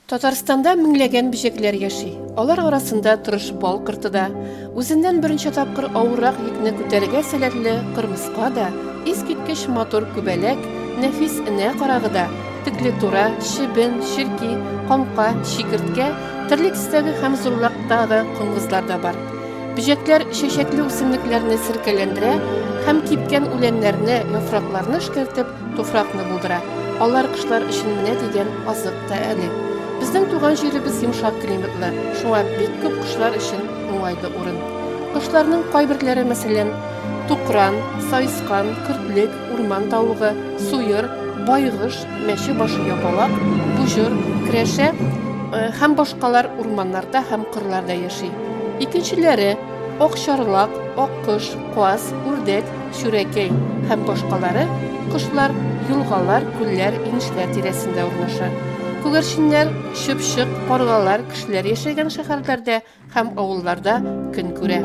Татарстанда меңләгән бөҗәкләр яши. Алар арасында тырыш бал корты да, Үзеннән берничә тапкыр авыррак йөкне күтәрергә сәләтле кырмыска да, искиткеч матур күбәләк, нәфис энә карагы да, теклеклтура, чебен, черки, камка, чикерткә, төрле төстәге һәм зурлыктагы коңгызлар да бар. Бөҗәкләр чәчәкле үсемлекләрне серкәләндерә һәм кипкән үләннәрне, яфракларны эшкәртеп, Туфракны булдыра. Алар кошлар өчен менә дигән азык та әле. Безнең туган җиребез йомшак климатлы, шуңа бик күп кошлар өчен уңайлы урын. Кошларның кайберләре, мәсәлән, тукран, саескан, көртлек, урман тавыгы, суер, байгыш, мәче башы япалак, буҗыр, керәшә һәм башкалар урманнарда һәм кырларда яши. Икенчеләре, Акчарлак, аккош, каз, үрдәк, чүрәкәй һәм башкалары кошлар елгалар, күлләр, инешләр тирәсендә урнаша. Күгәрченнәр, чыпчык, каргалар кешеләр яшәгән шәһәрләрдә һәм авылларда көн күрә.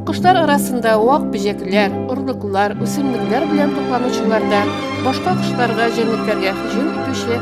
Кошлар арасында вак бөҗәкләр, орлыклар, үсемлекләр белән тукланучылар да, башка кошларга, җәнлекләргә һөҗүм итүче